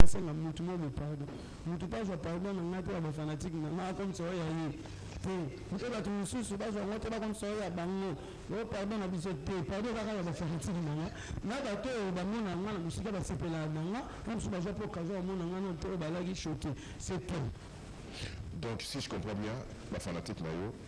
na senga mutu momo pardon mutu pe azwa pardon na ngai pe ya ba fanatique na ngai akomisa yo ya ye te mpe batu mususu bazwa yango te bakomisa yo ya bango yo pardon na biso te pardon kaka ya ba fanatique na ngai na bato oyo bamona yango na mosika basepelaka na ngai na mosusu bazwa mpe okazo bamona ngai na te oyo balaki choke c'est tout. Donc si je comprends bien ba fanatique na yo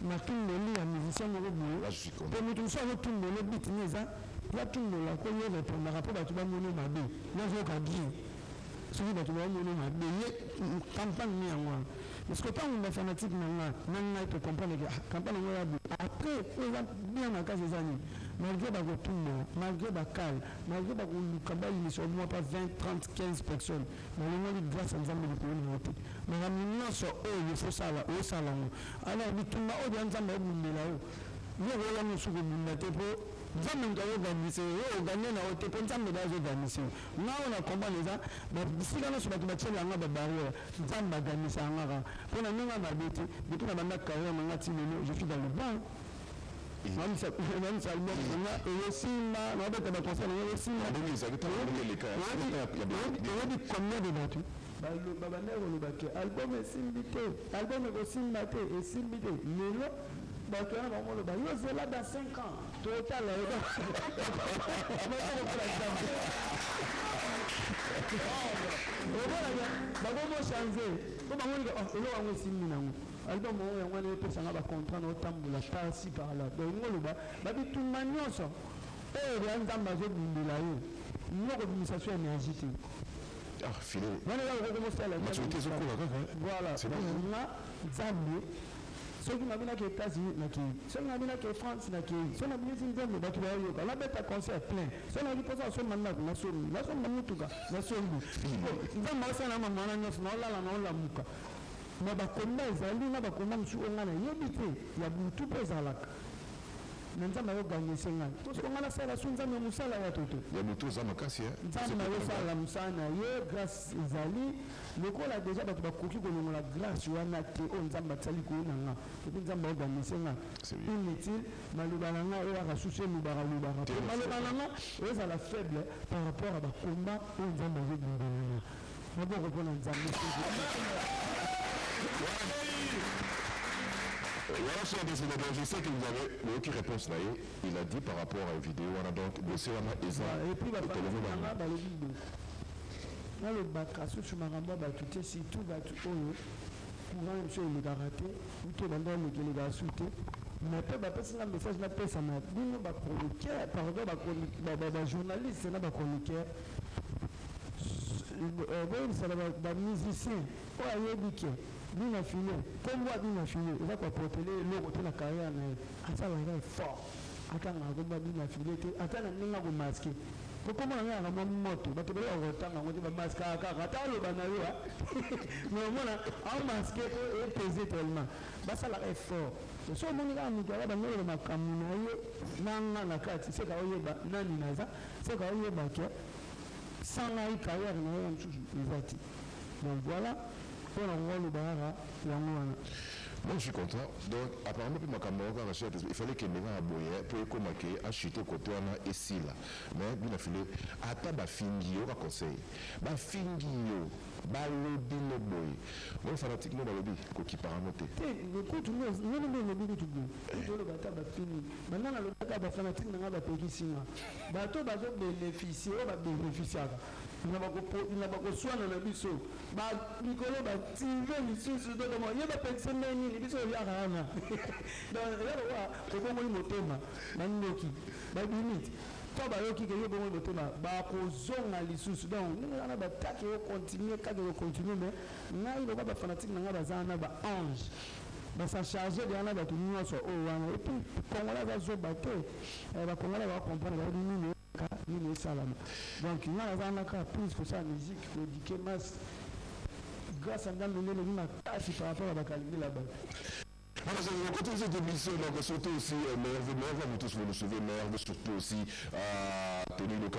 Na tundoli ya musicien moko boye pe mutu mususu azo tundole beat ne eza yo atundola pe yo repondaka po batu ba mono mabe nazo yoka bien soki batu bao mono mabe ye campagne ne yango wana mais sikoyo tangu ba fanatique na nga na ngai to comprendre ke ah campagne yango eza boye apres oyo eza bien makasi eza nini malgre ba kotundola malgre ba kale malgre ba koluka ba yinisa yo mua pa 20 30 15 personnes Nalongoli grace ya nzambe likolo na yo te makambo nionso oyo il faut osala osala yango alors bitumba oyo dejà nzambe abundela yo yo okoya mususu kobunda te po nzambe moto azo gagniser yo yo ogagner na yo te po nzambe dejà azo gagniser yo nga oyo na comprendre eza bisika nionso bato batiela nga ba barrière nzambe agagnisaka nga kaka po na ndenge ya mabe te depuis na banda carrière na nga ti lelo je suis dans le bon Mamsa mamsa album nga eye simba na beta ba concert na eye simba bongo ezali ta bongo eleka ya oyebi combien de batu baloba banda koloba ke album esimbi te album ekosimba te esimbi te lelo bato wana bango loba yo zela dans 5 ans totala yo okolaka bakomochange po bango eloko yango esimbi nango Album oyo yango wana epesa nga ba contrat na otambola par ci par là donc elingi oloba ba bitumba nionso oyo dejà nzambe azo bundela yo yo okobimisa so energie te Ah, Philo. wana eza okoki kosala Maturité ezokola kaka. voilà C'est bien, donc hein. nga nzambe soki nabi nake etats-unis nakei soki nabi nake france nakei soki nabimisi nzembo bato bayoyoka nabeta concert plein soki nayoki mposa nasomba ndako nasombi nasomba motuka nasombi Sikoyo, nzambe asala na mama wana nyonso naolala naolamuka Mais ba combat ezali na ba combat mususu oyo nga na yebi te ya butu pe ezalaka mais nzambe azo gagnese nga po sikoyo nga na sala su nzambe ya musala ya toto? Ya butu oza makasi hein. Nzambe azo sala musala na ye grace ezali lokola dejà batu ba koki ko longola grace wana te oyo nzambe atia likolo na nga et puis nzambe azo gagnese nga inutile maloba na nga eyaka susu elubaka lubaka po maloba na nga ezala faible par rapport ya ba combat oyo nzambe azo bundela nga Maboko mpo na Nzambe. Voilà, chers des Sénégalais, je sais que vous avez boyoki réponse na ye il a dit par rapport à une vidéo wana donc dossier wana eza Et puis, ba- tolobi ba- bango. ba- balobi boye. nalobaka susu makambo ya bato te surtout bato oyo courant ya biso elekaka te uto ebanda eleki elekaka su te me mpe bapesi nga message napesa na bino bachroniqueur pardon bachronique- ba- ba- bajournaliste na bachroniqueur Boyebisa na ba musiciens oyo ayebi que Bina Filo, kombo ya Bina Filo eza ko apporter ye eloko te na carrière na ye, asala kaka effort atangaka kombo ya Bina Filo te, ata na ndenge ya ko masquer. Po kombo na ngai ezalaka mwa moto, batu ebele bakoka kotanga yango te, ba masquaka kaka. Ata aloba na yo mais omona ao masquer po e peser tellement. Basalaka effort. Soki omoni kaka mutu aza banda koloba makambu na ye na nga na kati, seka oyeba nani naza, seka oyeba que. sans ngai carrière na ye mususu eza te donc voila po na koka loba kaka yango wana. Moi je suis content donc apparemment pe makambo yango kaka soit il fallait ekende kaka boye po ekoma que a chute cote wana esila mais bino file ata ba fingi yo ka conseil ba fingi yo ba lobi no boye moi fanatique no balobi ko kipaka no te. Te mais kutu nga nde olobi kutu boye kutu oloba ata ba fingi banda na lobi ata ba fanatique na nga ba pekisi nga. Bato oyo bazo beneficier, oyo ba beneficiaka na ba koswana na biso, ba mikolo ba tive lisusu to comment, ye ba pekisa ndenge nini, biso toliaka wana donc eza lokola obongoli motema, ba ndoki ba bimi tant bayoki que yo obongoli motema ba kozonga lisusu, donc ndenge wana ba attaque eko continuer kaka eko continuer, mais ngai lokola ba fanatique na ngai baza wana ba anges Ba sa charge dejà na batu nionso oyo wana et puis congolais aza zoba te eh ba congolais ba comprendre bayebi nini oyoka nini esalama donc nga naza wana kaka please kosala musique ko eduquer masse grace ya nzambe nde eleki makasi par rapport ya ba calcul ya batu. Voilà, c'est le côté de l'émission. Donc, surtout aussi, euh, Merve, Merve, vous tous, vous le savez, Merve, surtout aussi, euh, Tony Loka.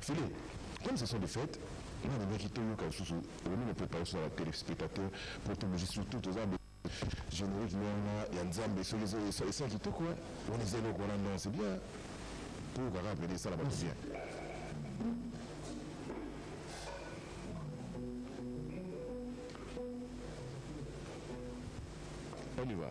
Fille, comme ce sont des fetes, nga nalingaki toyoka lisusu okomi na preparation ya ba telespectateurs po tomeli surtout toza na generique nde wana ya nzambe soki ezo esa esa kitoko hein wana eza eloko wana non c'est bien toyoka kaka pede esala batu bien. On y va.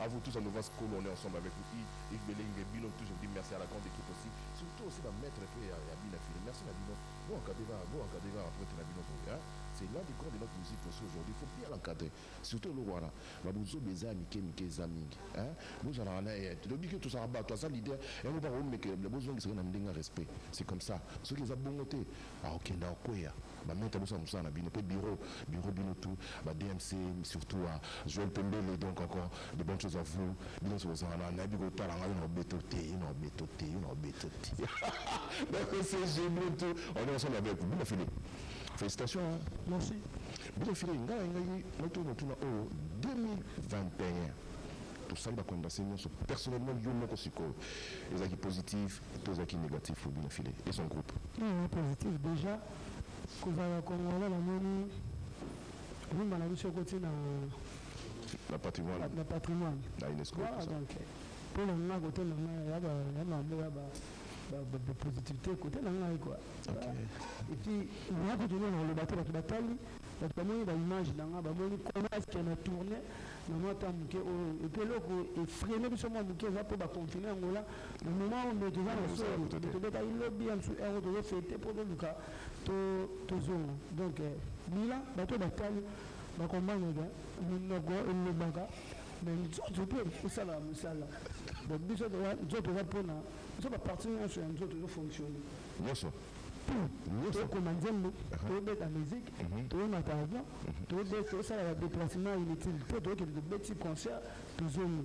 A vous tous à Novas kolo on est ensemble avec vous i Yves belenge bino tout je vous dis merci à la grande equipe aussi surtout aussi ba maitre pe ya ya bina fine merci na bino bo encadre ba bo encadre ba prete na bino boye hein c'est l'un des grands de notre musique aussi aujourd'hui faut bien l'encadre surtout eloko wana ba buzoba eza ya mike mike eza mingi hein bo zalaka na ye to lobi que to zalaka batu aza leader yango ba ko mekele bo zongisa ye na ndenge ya respect c'est comme ça soki eza bongo te ako kende ako kweya. Ba maitre bosala musala na bino pe bureau bureau bino tout ba DMC surtout a Joel pembele donc encore de bonne chose à vous bino nionso bozala na nayebi kotala nga yo na obeto te yo na obeto te yo na obeto te donc c'est je bino tout on est ensemble avec vous bino filet felicitations hein merci bino filet nga ngai maitre motuna oyo 2021 tosali ba conversation nionso personnellement yo moko sikoyo ezalaki positif To zaki negatif pour bino fille et son groupe. Nini eza positif dejà kozala congolais na moni rumba na biso ekoti na. Na patrimoine. Na patrimoine. Na unesco et tout ça. Voilà donc po na nga cote na nga ya ba ya mambo ya ba ba positivite cote na ngai quoi. Ok. Et puis na kutu nini na loba te batu batali batu ba moni ba image na nga ba moni comment est-ce que na tourne na mwa temps muke oyo et puis eloko e freine biso mwa muke eza po ba confine Angola. Maman oyo ndoki eza na soni mais tobetaki lobi ya misusu heure oyo tozo fete po toluka tozonga donc bilan batu oyo batali ba comprendre que munoko elobaka mais nzoto pe esalaka musala donc biso toza nzoto eza pona biso ba partie nionso ya nzoto ezo fonctionne nionso tout tokoma nzembo tobeta musique tomata avion tosala ba deplacement inutile po tokende tobeti concert tozongi.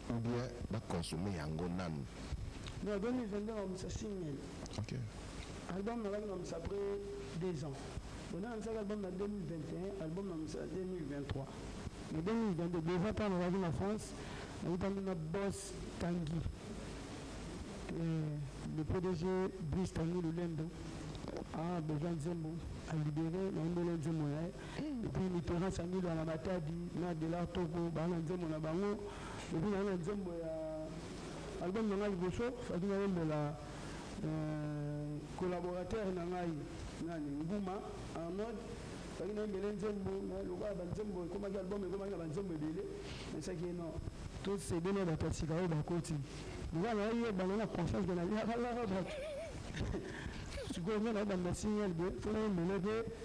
Ou bien ba consommer yango nanu. Non 2022 ba bongisa single. Ok. Album na baki na bongisa après deux ans. Bon na lansaki album na 2021, album na bongisa na 2023. Na 2022 dejà tango na zalaki na France na kutani na Boss Tanguy eh le pdg Brice Tanguy Lulendo a bozua nzembo a libere na yembeli ye nzembo na ye. Epuis Mitterrand Sangila na Matadi na Delart Toko baza na nzembo na bango epuis naza na nzembo ya album na ngai liboso fallaki nayembela collaborateur na ngai nani Nguma Arnold fallaki nayembela ye nzembo mais lokola ba nzembo ekomaki album ekomaki na ba nzembo ebele nayebisaki ye non to cede na batu ya sika oyo bakoti lokola naye ye bana na confiance mais naliaka laka batu sikoyo nga nayeba na signal boye fo nayembela ye pe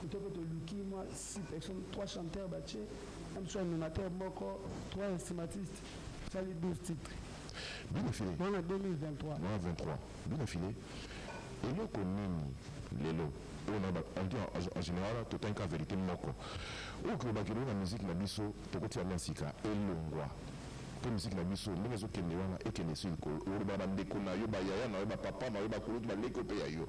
Kote pe toluki mwa site action trois chanteurs batie na biso animateur moko trois instrumatistes esali 12 titres Bino filet wana 2023. wana 23 bino filet eloko nini lelo oyo na ba on dit en en general totangi ka verite moko oyo kilobaki lelo na musique na biso tokotia yango ya sika elongwa po musique na biso ndenge ezo kende wana ekende esi likolo okoloba na ba ndeko na yo ba yaya na yo ba papa na yo ba kulutu ba leki oyo pe ya yo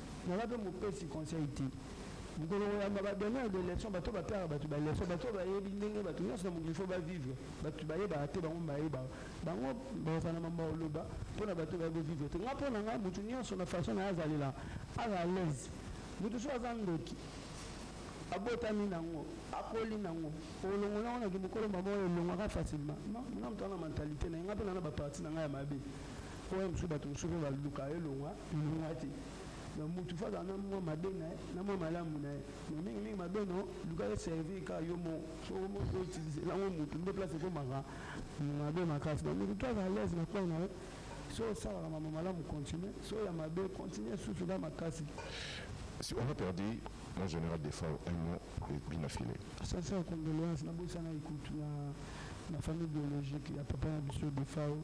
Naza pe mopesi conseil te mokolo koyamba ba donneur de leçon bato bapiaka bato ba leçon bato bayebi ndenge bato nionso na mokili faut ba vivre bato bayebaka te bango bayebaka bango bakozala na mambo ya koloba pona bato baye ko vivre te nga pona nga moto nionso na façon naye azalela aza à l'aise moto soki aza ndoki abotami nango akoli nango okolongola yango na kimokolo mbamoko elongwaka facilement nga moto wana mentalite naye nga pe naza na ba partie nanga ya mabe Oyo mususu batu mususu pe ba luka elonga elonga te donc mutu faut azala na mua mabe na ye na mua malamu na ye mais mingi mingi mabe no luka e servir kaka yo moko soki omoni ko utilise yango mutu nde place ekomaka mabe makasi donc mutu tout aza alaise na coin na ye soki osalaka mambo malamu continue soki ya mabe continue susu na makasi. Si on a perdu mon general defao un mot et puis na filet. Sincère condoleances na bosanaki kutu na na famille biologique ya papa na biso defao.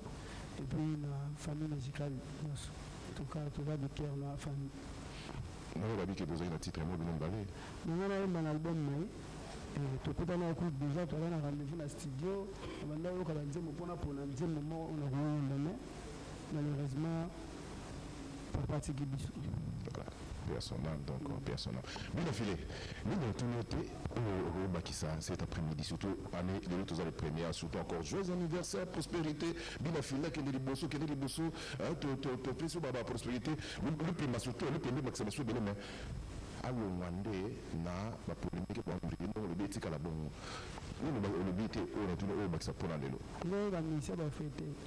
Epuis na famille musicale nionso en tout cas toza du coeur na famille. Nanu babi ke bozali na titre ya mwa bino mibale. Na nga na yemba na album na ye eh tokutana ecoute dejà toza na rendez-vous na studio na banda koyoka ba nzembo po na pona nzembo moko oyo na ko yemba mais malheureusement papa atiki biso voilà paix à son âme donc paix à son âme bino filet nini natuni yo te oyo okoki bakisa cet après midi surtout année lelo toza le premier surtout encore joyeux anniversaire prospérité bino filet kende liboso kende liboso hein, to- to- topesi yo ba ba prospérité Lu- lupemba surtout lupemba ebakisa biso ebele mais alongwa nde na ba polemike bwa mbeli ndenge olobi etikala bongo nini ba- olobi te oyo natuni oyo obakisa mpo na lelo Lelo ba misia ba fete.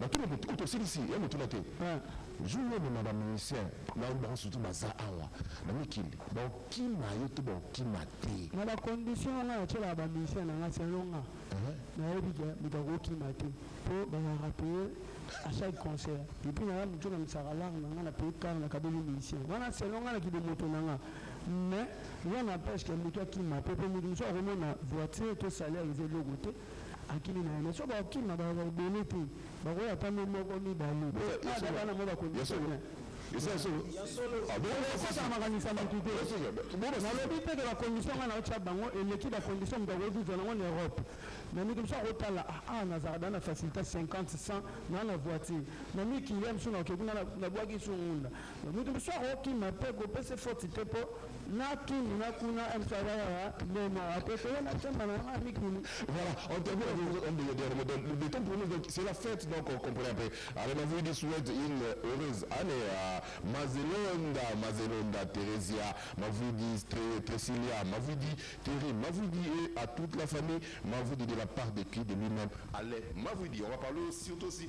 Natuna moto oyo tosilisi ya motuna te jour oyo mema ba musicien na bango surtout baza awa na mikili bakokima yo to bakokima te na ba condition oyo nga natielaka ba musicien na nga selon nga nayebi ke moto akokima te po bazalaka paye a chaque concert et puis naza mutu namisaka lar na nga na paye car na kabeli musicien wana selon nga na kibomoto na nga mais rien n'empeshe ke mutu akima te po mutu mususu akomona voiture to salaire eza eloko te Akimi na ye mais soki bakokima bakozala ebele te bakoya ata no moko mibale ata bana moko bakondisa bien kosala makanisi ya mutu te nalobi te ke ba condition nga naotia bango eleki ba condition mutu akoki kozua nango na Europe mais mutu mususu akotala awa nazalaka deja na facilite ya 50 100 naza na voiture na mikili ya misusu nakoki nga nabuaki sungunda Mutu mususu ako kima pe ko pese faute te po n'a kin n'a kuna MC aza kaka nde moko te toye n'a chamba n'a nga mikili. Voilà on termine avec vous un des derniers mots le temps pour nous donc c'est la fête donc on comprend un peu alors na voulais lui souhaite une heureuse annee à Mazelonda Mazelonda Theresia Mavudi Tresilia Mavudi Thierry Mavudi et à toute la famille Mavudi de la part de qui de lui-même Alain Mavudi on va parler surtout aussi